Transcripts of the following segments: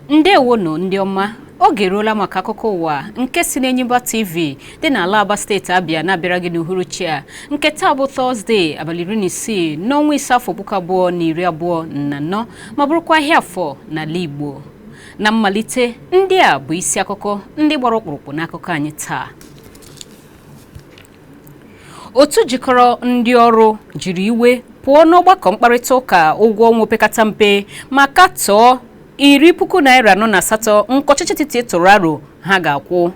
ndewonụ ndị ọma oge eruola maka akụkọ ụwa nke si n'Enyimba TV dị n'ala Aba steeti Abịa na-abịara gị n'uhuruchi a nke taa bụ Tọzdee abalị iri na isii n'ọnwa ise afọ puku abụọ na iri abụọ na anọ ma bụrụkwa ahịa afọ n'ala Igbo na mmalite ndị a bụ isi akụkọ ndị gbara ọkpụrụkpụ n'akụkọ anyị taa otu jikọrọ ndị ọrụ jiri iwe pụọ n'ọgbakọ mkparịta ụka ụgwọ ọnwa opekata mpe ma katọọ iri puku naira anọ na asatọ nke ọchịchị etiti tụrụ aro ha ga-akwụ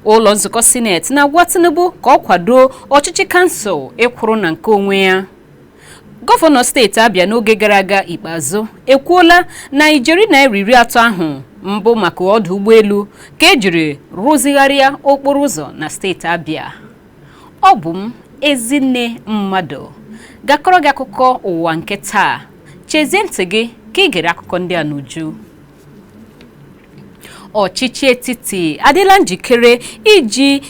ụlọ nzukọ sineti na-agwa Tinubu ka ọ kwado ọchịchị kansụl ịkwụrụ na nke onwe ya Gọvanọ steeti Abia n'oge gara aga Ikpeazụ ekwuola na ijeri naira iri atọ ahụ mbụ maka ọdụ ụgbọelu ka e jiri rụzigharịa okporo ụzọ na steeti Abia. Ọ bụ m Ezinne Mmadụ ga-akọrọ gị akụkọ ụwa nke taa. Chezie ntị gị ka i gere akụkọ ndị a n'uju. Ọchịchị etiti adịla njikere iji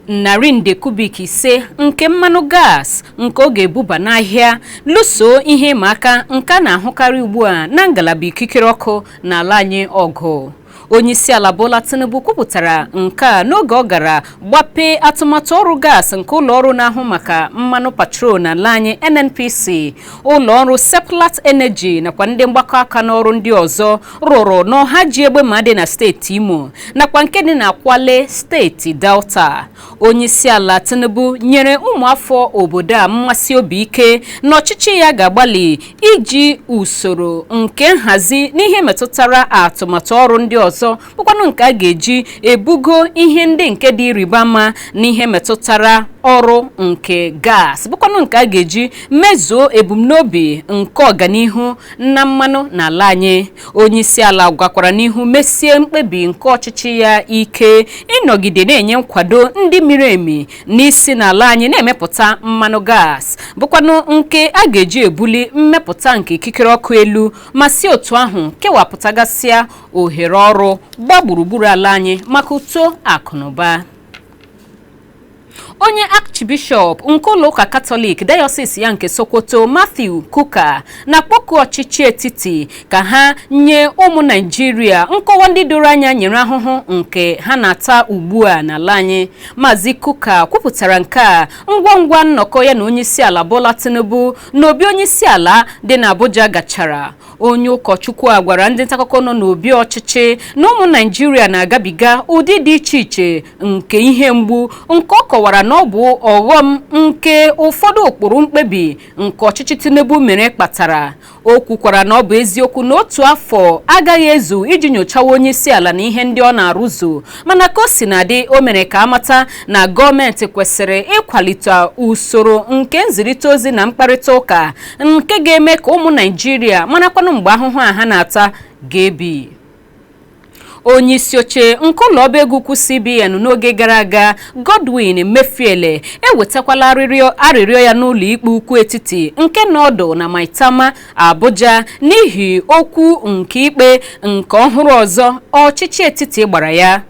narị nde kubik ise nke mmanụ gas nke ọ ga-ebuba n'ahịa lụso ihe ịma aka nke a na-ahụkarị ugbu a na ngalaba ikikere ọkụ n'ala anyị ọgụ onyeisiala Bola Tinubu kwupụtara nke a n'oge ọ gara gbapee atụmatụ ọrụ gas nke ụlọọrụ na-ahụ maka mmanụ petrol n'ala anyị NNPC ụlọọrụ Seplat Energy nakwa ndị mgbakọ aka n'ọrụ ndị ọzọ rụrụ n'ohaji egbema dị na steeti imo nakwa nke dị na kwale steeti delta onyeisiala tinubu nyere ụmụafọ obodo a mmesi obi ike na ọchịchị ya ga-agbalị iji usoro nke nhazi n'ihe metụtara atụmatụ ọrụ ndị ọzọ bụkwanụ nke a ga-eji ebugo ihe ndị nke dị ịrịba ama n'ihe metụtara ọrụ nke gas bụkwanụ nke a ga-eji mezuo ebumnobi nke ọganihu na mmanụ n'ala anyị onye isi ala gakwara n'ihu mesie mkpebi nke ọchịchị ya ike ịnọgide na-enye nkwado ndị miri emi n'isi n'ala anyị na-emepụta mmanụ gas bụkwanụ nke a ga-eji ebuli mmepụta nke ikikere ọkụ elu ma si otu ahụ kewapụtagasịa ohere ọrụ gbaa gburugburu ala anyị maka uto akụnụba. onye archbishọp nke ụlọụka katọlik dayọsis ya nke sokoto matthew kuka na-akpọku ọchịchị etiti ka ha nye ụmụ naijiria nkọwa ndị doro anya nyere ahụhụ nke ha na-ata ugbu a n'ala anyị maazị kuka kwupụtara nke a ngwa ngwa nnọkọ ya na onyeisiala bola tinubu n'obi onyeisiala dị n'abuja gachara onye ụkọchukwu a gwara ndị ntaakụkọ nọ n'obi ọchịchị na ụmụ naịjirịa na-agabiga ụdị dị iche iche nke ihe mgbu nke ọ kọwara na ọ bụ ọghọm nke ụfọdụ ụkpụrụ mkpebi nke ọchịchị tinubu mere kpatara o kwukwara na ọ bụ eziokwu na otu afọ agaghị ezu iji nyochawa onye isi ala na ihe ndị ọ na-arụzu mana ka o sina dị o mere ka a mata na gọọmenti kwesịrị ịkwalite usoro nke nzirịta ozi na mkparịta ụka nke ga-eme ka ụmụ naịjirịa marakwanụ mgbe ahụhụ a ha na-ata ga-ebi onye isi oche nke ụlọ ọba ego ukwu cbn n'oge gara aga godwin emefiele ewetakwala arịrịọ ya n'ụlọ ikpe ukwu etiti nke nọ ọdụ na maitama abuja n'ihi okwu nke ikpe nke ọhụrụ ọzọ ọchịchị etiti gbara ya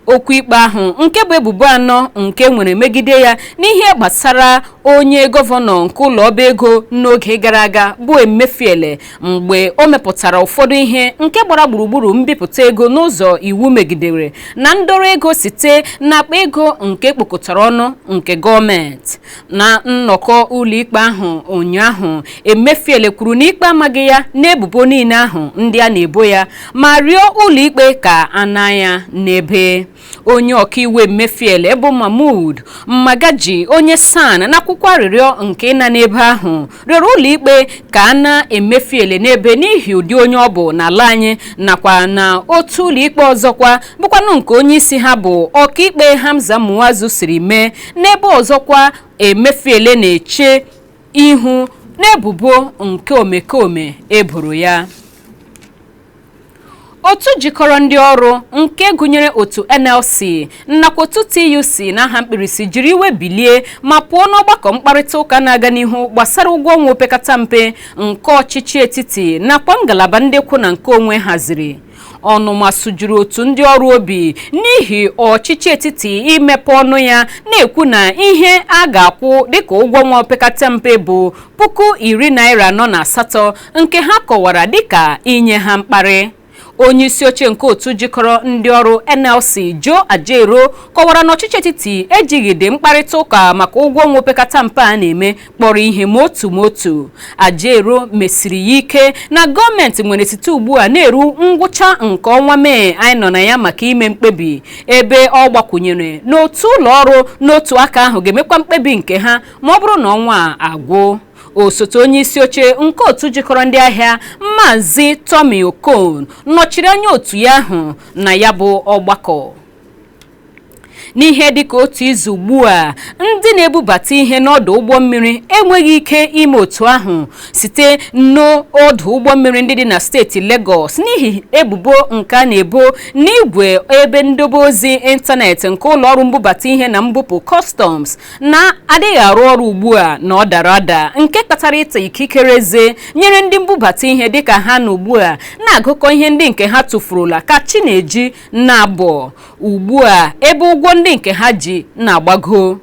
okwu ikpe ahụ nke bụ ebubo anọ nke e nwere megide ya n'ihe gbasara onye gọvanọ nke ụlọ ọba ego n'oge gara aga bụ Emefiele mgbe o mepụtara ụfọdụ ihe nke gbara gburugburu mbipụta ego n'ụzọ iwu megidere na ndọrọ ego site n'akpa ego nke e kpokọtara ọnụ nke gọọmenti na nnọkọ ụlọikpe ahụ ụnyaahụ emefiele kwuru na ikpe amaghị ya n'ebubo niile ahụ ndị a na-ebo ya ma rịọ ụlọikpe ka a naa ya n'ebe onye ọkaiwu emefiele bụ mahmud magaji onye san n'akwụkwọ arịrịọ nke ịna n'ebe ahụ rịọrọ ụlọikpe ka a naa emefiele n'ebe n'ihi ụdị onye ọ bụ n'ala anyị nakwa na otu ụlọikpe ọzọkwa bụkwanụ nke onye isi ha bụ ọkaikpe Hamza Muazu siri mee n'ebe ọzọkwa emefiele na-eche ihu n'ebubo nke omekome e boro ya otu jikọrọ ndị ọrụ nke gụnyere otu nlc nakwa otu tuc n'aha mkpirisi jiri iwe bilie ma pụọ n'ọgbakọ mkparịta ụka na-aga n'ihu gbasara ụgwọ ọnwa opekata mpe nke ọchịchị etiti nakwa ngalaba ndị kwụ na nke onwe haziri ọnụma sụjuru otu ndị ọrụ obi n'ihi ọchịchị etiti imepe ọnụ ya na-ekwu na ihe a ga-akwụ dịka ụgwọ ọnwa opekata mpe bụ puku iri naira anọ na asatọ nke ha kọwara dịka inye ha mkparị onye isi oche nke otu jikọrọ ndị ọrụ nlc joe ajaero kọwara na ọchịchị etiti ejighịdị mkparịta ụka maka ụgwọ ọnwa opekata mpe a na-eme kpọrọ ihe ma otu ma otu ajaero mesiri ya ike na gọọmenti nwere site ugbu a na-eru ngwụcha nke ọnwa mee anyị nọ na ya maka ime mkpebi ebe ọ gbakwụnyere na otu ụlọ ọrụ n'otu aka ahụ ga-emekwa mkpebi nke ha ma ọ bụrụ na ọnwa a agwụ osote onye isi oche nke otu jikọrọ ndị ahịa Maazị Tommy Okon nọchiri anya otu ya ahụ na ya bụ ọgbakọ n'ihe dịka otu izu ugbu a ndị na-ebubata ihe n'ọdụ ụgbọ mmiri enweghị ike ime otu ahụ site n'ọdụ ụgbọ mmiri ndị dị na steeti Lagos n'ihi ebubo nke a na-ebo n'igwe ebe ndobe ozi ịntanetị nke ụlọọrụ mbubata ihe na mbupụ customs na-adịghị arụ ọrụ ugbu a na ọ dara ada nke kpatara ịta ikikere eze nyere ndị mbubata ihe dịka ha nọ ugbu a na-agụkọ ihe ndị nke ha tụfurula ka chi na-eji na-abọ ugbu a ebe ụgwọ ndị nke ha ji na-agbago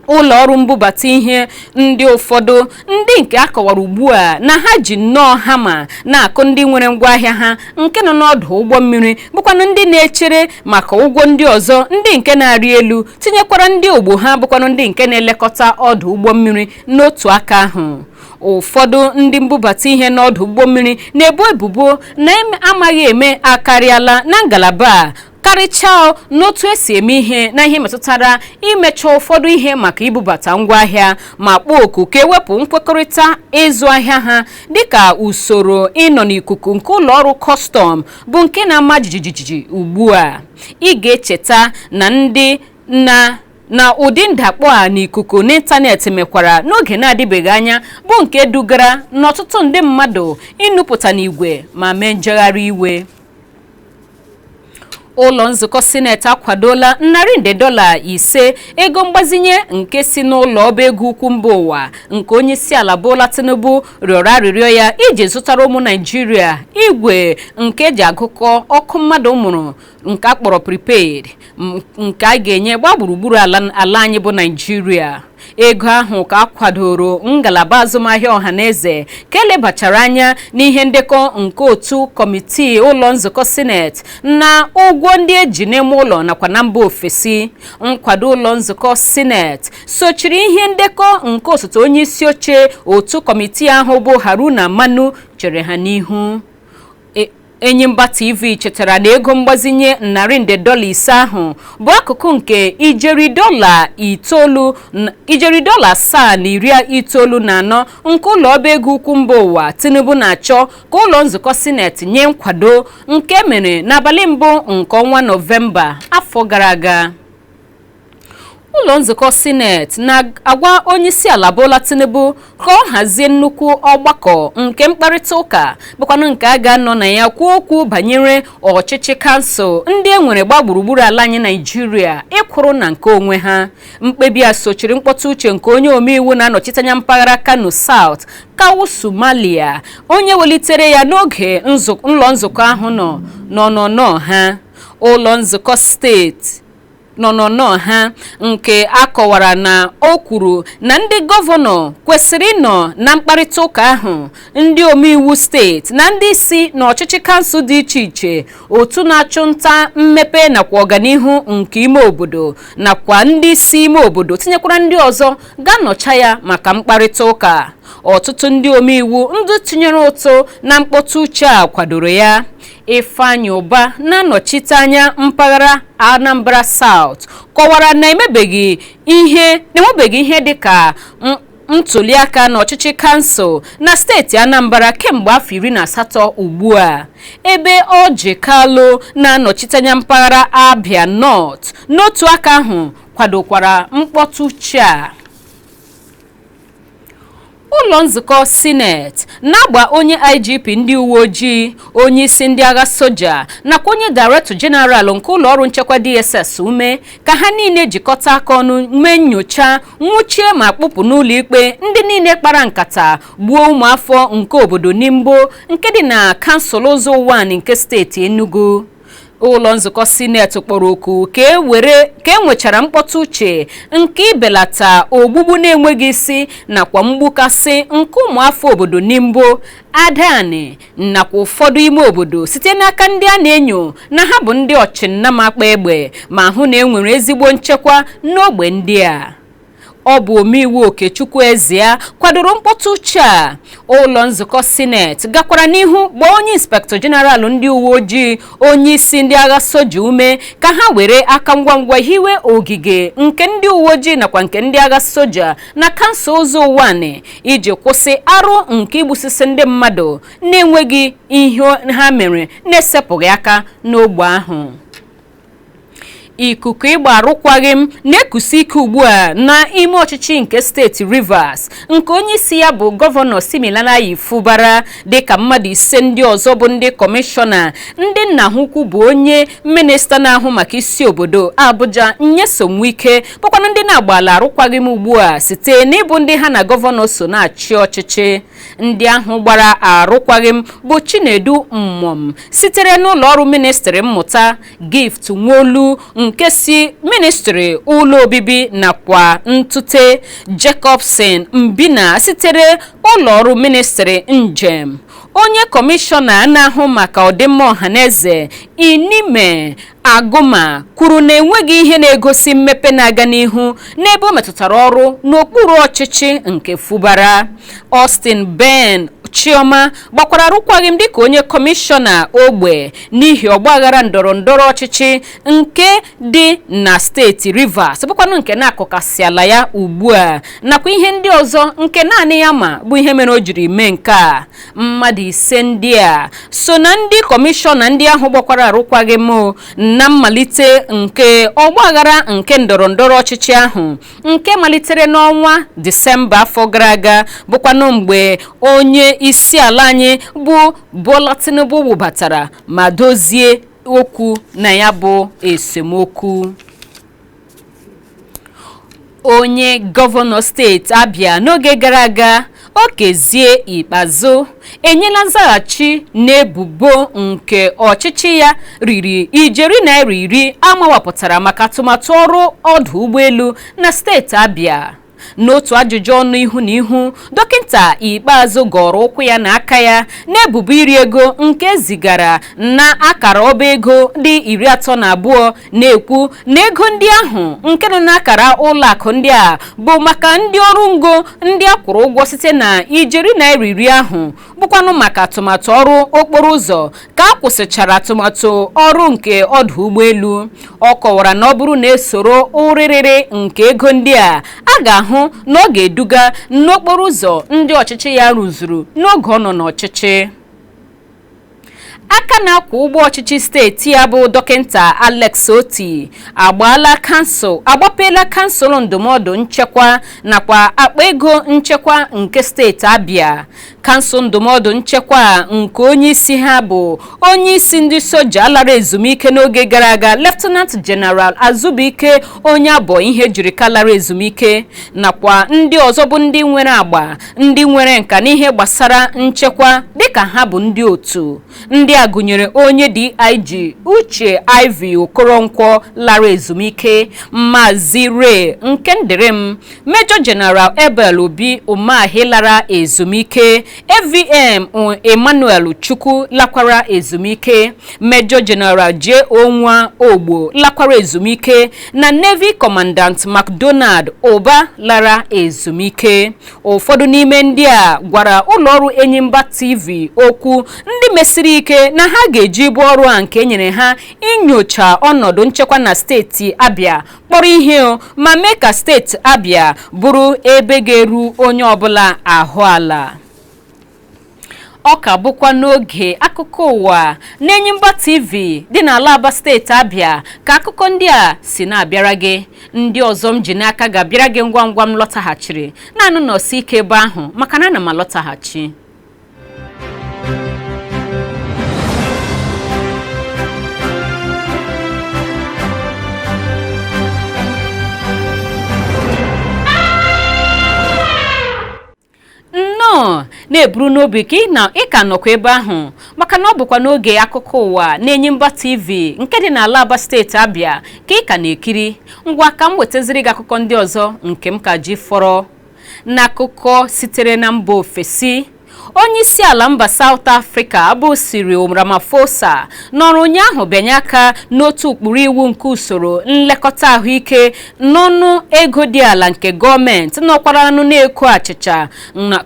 ụlọ ọrụ mbubata ihe ndị ụfọdụ ndị nke a kọwara ugbu a na ha ji nnọọ hama na-akụ ndị nwere ngwaahịa ha nke nọ n'ọdụ ụgbọ mmiri bụkwanụ ndị na-echere maka ụgwọ ndị ọzọ ndị nke na-arị elu tinyekwara ndị ogbo ha bụkwanụ ndị nke na-elekọta ọdụ ụgbọ mmiri n'otu aka ahụ ụfọdụ ndị mbubata ihe n'ọdụ ụgbọ mmiri na-ebo ebubo na amaghị eme akarịala na ngalaba a karịchaa n'otu esi eme ihe na ihe metụtara imecha ụfọdụ ihe maka ibubata ngwaahịa ma kpọọ oku ka ewepụ nkwekọrịta ịzụ ahịa ha dịka usoro ịnọ n'ikuku nke ụlọ ọrụ kọstọm bụ nke na-ama jijiji ugbu a ị ga-echeta na ndị na na ụdị ndakpọ a n'ikuku n'ịntanetị mekwara n'oge na-adịbeghị anya bụ nke dugara n'ọtụtụ ndị mmadụ inupụta n'igwe ma mee njegharị iwe ụlọ nzukọ sineti akwadola narị nde dọla ise ego mgbazinye nke si n'ụlọ ọba ego ukwu mba ụwa nke onye isi ala Bola Tinubu rịọrọ arịrịọ ya iji zụtara ụmụ Naijiria igwe nke eji agụkọ ọkụ mmadụ mụrụ nke akpọrọ prepaid nke a ga-enye gba gburugburu ala anyị bụ naijiria ego ahụ ka a kwadoro ngalaba azụmahịa ọha na eze ka elebachara anya n'ihe ndekọ nke otu kọmitii ụlọ nzukọ sineti na ụgwọ ndị eji n'ime ụlọ nakwa na mba ofesi nkwado ụlọ nzukọ sineti sochiri ihe ndekọ nke osote onye isi oche otu kọmitii ahụ bụ haruna manu chere ha n'ihu Enyimba TV chetara na ego mgbazinye narị nde dọla ise ahụ bụ akụkụ nke ijeri dọla asaa na iri itoolu na anọ nke ụlọ ọba ego ukwu mba ụwa Tinubu na-achọ ka ụlọ nzukọ sineti nye nkwado nke mere n'abalị mbụ nke ọnwa Nọvemba afọ gara aga ụlọ nzukọ sineti na-agwa onyeisiala Bola Tinubu ka ọ hazie nnukwu ọgbakọ nke mkparịta ụka bụkwanụ nke a ga-anọ na ya kwuo okwu banyere ọchịchị kansụl ndị e nwere gba gburugburu ala anyị naijiria ịkwụrụ na nke onwe ha mkpebi a sochiri mkpọtụ uche nke onye omeiwu na-anọchite anya mpaghara Kano South Kawu Sumalia onye welitere ya n'oge ụlọ nzukọ ahụ nọ n'ọnọnọ ha ụlọ nzukọ steeti n'ọnọnọ ha nke a kọwara na o kwuru na ndị gọvanọ kwesịrị ịnọ na mkparịta ụka ahụ ndị omeiwu steeti na ndị isi n'ọchịchị kansụl dị iche iche otu na-achụ nta mmepe nakwa ọganihu nke ime obodo nakwa ndị isi ime obodo tinyekwara ndị ọzọ ga-anọcha ya maka mkparịta ụka ọtụtụ ndị omeiwu ndị tinyere ụtụ na mkpọtụ uche a kwadoro ya Ifeanyi Uba na-anọchite anya mpaghara Anambra South kọwara na e nwebeghị ihe dịka ntuliaka n'ọchịchị kansụl na steeti Anambra kemgbe afọ iri na asatọ ugbu a ebe Orji Kalu na-anọchite anya mpaghara Abia North n'otu aka ahụ kwadokwara mkpọtụ uche a ụlọ nzukọ sineti na-agba onye igp ndị uwe ojii onye isi ndị agha soja nakwa onye director jeneral nke ụlọ ọrụ nchekwa dss ume ka ha niile jikọta aka ọnụ mee nnyocha nwụchie ma kpụpụ n'ụlọ ikpe ndị niile kpara nkata gbuo ụmụafọ nke obodo nimbo nke dị na kansụl ụzọ ụwanị nke steeti enugu ụlọ nzukọ sineti kpọrọ oku ka e nwechara mkpọtụ uche nke ibelata ogbugbu na-enweghị isi nakwa mgbukasị nke ụmụafọ obodo nimbo adani nakwa ụfọdụ ime obodo site n'aka ndị a na-enyo na ha bụ ndị ọchịnnama kpa egbe ma hụ na e nwere ezigbo nchekwa n'ogbe ndị a ọ bụ omeiwu okechukwu ezea kwadoro mkpọtụ uche a ụlọ nzukọ sineti gakwara n'ihu gbaa onye inspektọ jeneralụ ndị uwe ojii onye isi ndị agha soja ume ka ha were aka ngwa ngwa hiwe ogige nke ndị uwe ojii nakwa nke ndị agha soja na kansụl ụzọ ụwanị iji kwụsị arụ nke igbusisi ndị mmadụ na-enweghị ihe ha mere na-esepụghị aka n'ogbe ahụ ikuku ịgba arụkwaghị m na-ekusi ike ugbu a n'ime ọchịchị nke steeti Rivers nke onye isi ya bụ gọvanọ Siminalayi Fubara dịka mmadụ ise ndị ọzọ bụ ndị kọmishọna ndị nna ha ukwu bụ onye minista na-ahụ maka isi obodo Abuja Nyesom Wike bụkwanụ ndị na-agbaala arụkwaghị m ugbu a site n'ịbụ ndị ha na gọvanọ so na-achị ọchịchị ndị ahụ gbara arụkwaghịm bụ Chinedu Mmom sitere n'ụlọọrụ ministri mmụta Gift Worlu nke si ministri ụlọ obibi nakwa ntụte Jacobson Nbina sitere ụlọọrụ ministri njem onye kọmishọna na-ahụ maka ọdịmma ọhaneze Inime Aguma kwuru na enweghị ihe na-egosi mmepe na-aga n'ihu n'ebe o metụtara ọrụ n'okpuru ọchịchị nke Fubara. Austin Ben Chioma gbakwara arụkwaghịm dịka onye kọmishọna ogbe n'ihi ọgbaghara ndọrọ ndọrọ ọchịchị nke dị na steeti Rivers bụkwanụ nke na-akọkasịala ya ugbu a nakwa ihe ndị ọzọ nke naanị ya ma bụ ihe mere o jiri mee nke a mmadụ ise ndị a so na ndị kọmishọna ndị ahụ gbakwara arụkwaghịm na mmalite nke ọgbaghara nke ndọrọ ndọrọ ọchịchị ahụ nke malitere n'ọnwa Disemba afọ gara aga bụkwanụ mgbe onye isi ala anyị bụ Bola Tinubu wụbatara ma dozie okwu na ya bụ esemokwu onye gọvanọ steeti Abia n'oge gara aga Okezie Ikpeazu enyela nzaghachi n'ebubo nke ọchịchị ya riri ijeri naira iri a mawapụtara maka atụmatụ ọrụ ọdụ ụgbọelu na steeti Abia n'otu ajụjụ ọnụ ihu na ihu dọkịta Ikpeazu gọrọ ụkwụ ya na aka ya n'ebubo iri ego nke e zigara na akara ọba ego dị iri atọ na abụọ na-ekwu na ego ndị ahụ nke nọ n'akara ụlọ akụ ndị a bụ maka ndị ọrụ ngo ndị a kwụrụ ụgwọ site na ijeri naira iri ahụ bụkwanụ maka atụmatụ ọrụ okporo ụzọ ka a kwụsịchara atụmatụ ọrụ nke ọdụ ụgbọelu ọ kọwara na ọ bụrụ na e soro ụrịrịrị nke ego ndị a a ga-ahụ na ọ ga-eduga n'okporo ụzọ ndị ọchịchị ya rụzuru n'oge ọ nọ n'ọchịchị aka na-akwọ ụgbọ ọchịchị steeti a bụ dọkịta Alex Otti agbaala kansụl agbapeela kansụl ndụmọdụ nchekwa nakwa akpa ego nchekwa nke steeti Abia kansụl ndụmọdụ nchekwa nke onye isi ha bụ onye isi ndị soja lara ezumike n'oge gara aga Lieutenant General Azubuike Onyeabo Ihejirika lara ezumike nakwa ndị ọzọ bụ ndị nwere agba ndị nwere nka n'ihe gbasara nchekwa dịka ha bụ ndị otu ndị a gụnyere onye DIG Uche Ivy Okoronkwo lara ezumike Maazị Ray Nkemdirim Major General Abel Obi Umahi lara ezumike AVM Emmanuel Chukwu lakwara ezumike Major General J.O. Nwaogbo lakwara ezumike na Navy Commandant McDonald Ụba lara ezumike ụfọdụ n'ime ndị a gwara ụlọọrụ Enyimba TV okwu ndị mesiri ike na ha ga-eji ibu ọrụ a nke enyere ha inyocha ọnọdụ nchekwa na steeti Abia kpọrọ ihe o ma mee ka steeti Abia bụrụ ebe ga-eru onye ọbụla ahụ ala ọ ka bụkwa n'oge akụkọ ụwa n'Enyimba TV dị n'ala Aba steeti Abịa ka akụkọ ndị a si na-abịara gị ndị ọzọ m ji n'aka ga-abịara gị ngwa ngwa m lọtaghachiri naanị nọsi ike ebe ahụ maka na ana m alọtaghachi nnọọ na-eburu n'obi ka ị ka nọkwa ebe ahụ maka na ọ bụkwa n'oge akụkọ ụwa n'Enyimba TV nke dị n'ala aba steeti abịa ka ị ka na-ekiri ngwa ka m wetaziri gị akụkọ ndị ọzọ nke m ka ji fọrọ n'akụkọ sitere na mba ofesi onye isi ala mba South Africa bụ Cyril Ramaphosa nọrọ ụnyaahụ bịanye aka n'otu ụkpụrụ iwu nke usoro nlekọta ahụike n'ọnụ ego dị ala nke gọọmenti nọkwaranụ na-eko achịcha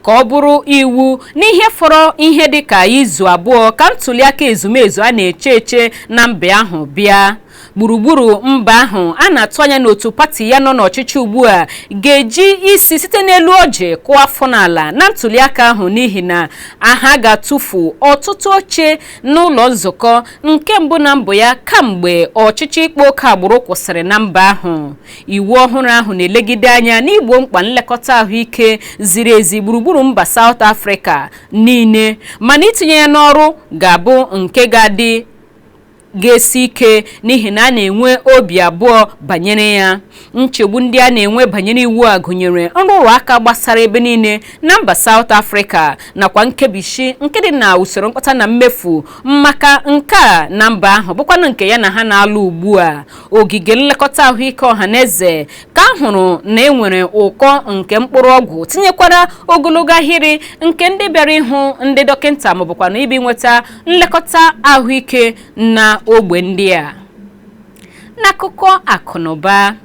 ka ọ bụrụ iwu n'ihe fọrọ ihe dị ka izu abụọ ka ntuliaka ezumezu a na-eche eche na mba ahụ bịa gburugburu mba ahụ a na-atụ anya na otu pati ya nọ n'ọchịchị ugbu a ga-eji isi site n'elu ọjị kụọ afọ n'ala na ntuliaka ahụ n'ihi na ha ga-atụfu ọtụtụ oche n'ụlọ nzukọ nke mbụ na mbụ ya kamgbe ọchịchị ịkpa oke agbụrụ kwụsịrị na mba ahụ iwu ọhụrụ ahụ na-elegide anya n'igbo mkpa nlekọta ahụike ziri ezi gburugburu mba South Africa niile mana itinye ya n'ọrụ ga-abụ nke ga-adị ga-esi ike n'ihi na a na-enwe obi abụọ banyere ya nchegbu ndị a na-enwe banyere iwu a gụnyere nrụrụ aka gbasara ebe niile na mba South Africa nakwa nkebishi nke dị na usoro mkpata na mmefu maka nke a na mba ahụ bụkwanụ nke ya na ha na-alụ ugbu a ogige nlekọta ahụike ọha na eze ka a hụrụ na enwere ụkọ nke mkpụrụ ọgwụ tinyekwara ogologo ahịrị nke ndị bịara ịhụ ndị dọkịnta maọbụkwanụ ịbịa nweta nlekọta ahụike na ogbe ndị a n'akụkọ akụnụba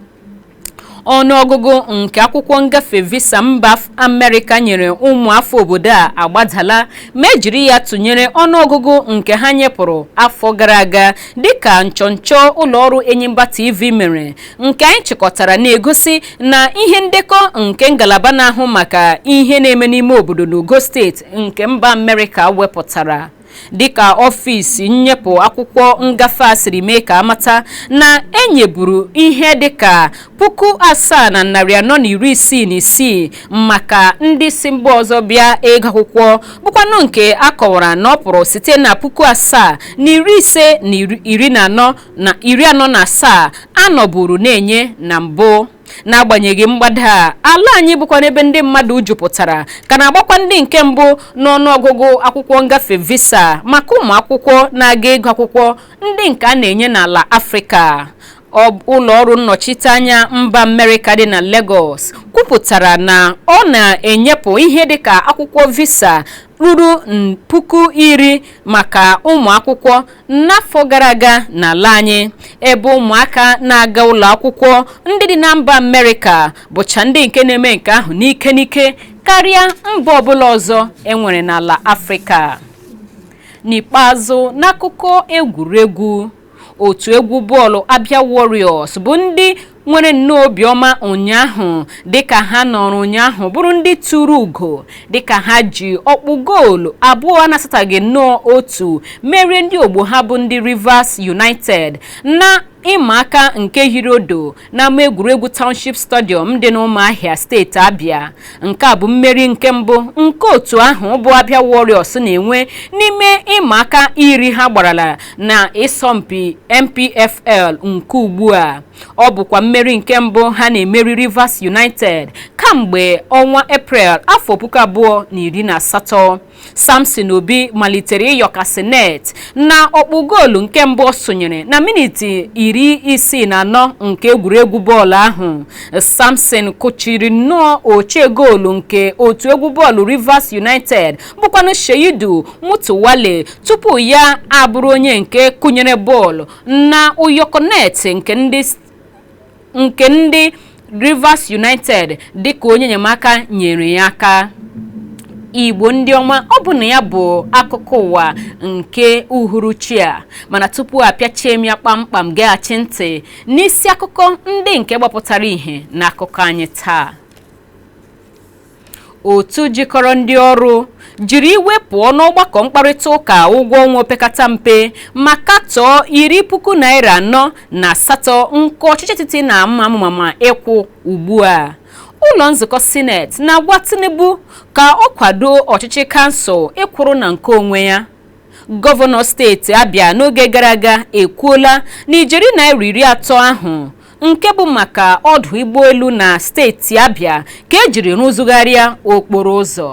ọnụọgụgụ nke akwụkwọ ngafe visa mba amerịka nyere ụmụafọ obodo a agbadala ma ejiri ya tụnyere ọnụọgụgụ nke ha nyepụrụ afọ gara aga dịka nchọnchọ ụlọọrụ Enyimba TV mere nke anyị chịkọtara na-egosi na ihe ndekọ nke ngalaba na-ahụ maka ihe na-eme n'ime obodo n'ogo steeti nke mba amerịka wepụtara dịka ọfịs nnyepụ akwụkwọ ngafe a siri mee ka amata na enyeburu ihe dịka puku asaa na narị anọ na iri isii na isii maka ndị si mba ọzọ bịa ịgụ akwụkwọ bụkwanụ nke a kọwara na ọ pụrụ site na puku asaa narị ise na iri anọ na asaa anọburu na-enye na mbụ n'agbanyeghị mgbada a ala anyị bụkwanụ ebe ndị mmadụ jupụtara ka na-agbakwa ndị nke mbụ n'ọnụọgụgụ akwụkwọ ngafe visa maka ụmụ akwụkwọ na-aga ịgụ akwụkwọ ndị nke a na-enye n'ala afrịka ụlọ ọrụ nnọchiteanya mba amerịka dị na Lagos kwupụtara na ọ na-enyepụ ihe dịka akwụkwọ visa ruru puku iri maka ụmụ akwụkwọ n'afọ gara aga n'ala anyị ebe ụmụaka na-aga ụlọ akwụkwọ ndị dị na mba amerịka bụcha ndị nke na-eme nke ahụ n'ike n'ike karịa mba ọbụla ọzọ enwere n'ala afrịka n'ikpeazụ n'akụkọ egwuregwu otu egwu bọọlụ abịa warriors bụ ndị nwere nnọọ obiọma ụnyaahụ dịka ha nọrọ ụnyaahụ bụrụ ndị turu ugo dịka ha ji ọkpụ goolu abụọ a na-asataghị nnọọ otu merie ndị ogbo ha bụ ndị Rivers United na ịma aka nke hiri odo n'ama egwuregwu Township Stadium dị n'Ụmụahịa steeti Abia nke a bụ mmeri nke mbụ nke otu ahụ bụ Abia Warriors na-enwe n'ime ịma aka iri ha gbarala na ịsọmpi NPFL nke ugbu a ọ bụkwa mmeri nke mbụ ha na-emeri Rivers United kamgbe ọnwa Eprel afọ puku abụọ na iri na asatọ Samson Obi malitere ịyọkasị net na ọkpụ goolu nke mbụ ọ sụnyere na miniti iri isii na anọ nke egwuregwu bọọlụ ahụ Samson kụchiri nnọọ ọche goolu nke otu egwu bọọlụ Rivers United bụkwanụ Sheidu Mutuwale tupu ya abụrụ onye nke kụnyere bọọlụ na ụyọkọ net nke ndị nke ndị Rivers United dịka onye enyemaka nyere ya aka igbo ndị ọma ọ bụ na ya bụ akụkọ ụwa nke uhuruchi a mana tupu apịachie m ya kpamkpam geghachi ntị n'isi akụkọ ndị nke gbapụtara ihe n'akụkọ anyị taa otu jikọrọ ndị ọrụ jiri iwe pụọ n'ọgbakọ mkparịta ụka ụgwọ ọnwa opekata mpe ma katọọ iri puku naira anọ na asatọ nke ọchịchị etiti na-ama amụma ịkwụ ugbu a ụlọ nzukọ sineti na-agwa tinubu ka ọ kwado ọchịchị kansụl ịkwụrụ na nke onwe ya gọvanọ steeti abịa n'oge gara aga ekwuola na ijeri naira iri atọ ahụ nke bụ maka ọdụ ụgbọelu na steeti Abịa ka ejiri rụzigharịa okporo ụzọ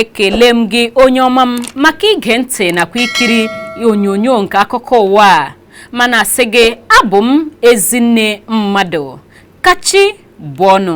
ekele m gị onye ọma m maka ige ntị nakwa ikiri onyonyo nke akụkọ ụwa a ma na-asị gị abụ m Ezinne Mmadụ ka chi bọọ nụ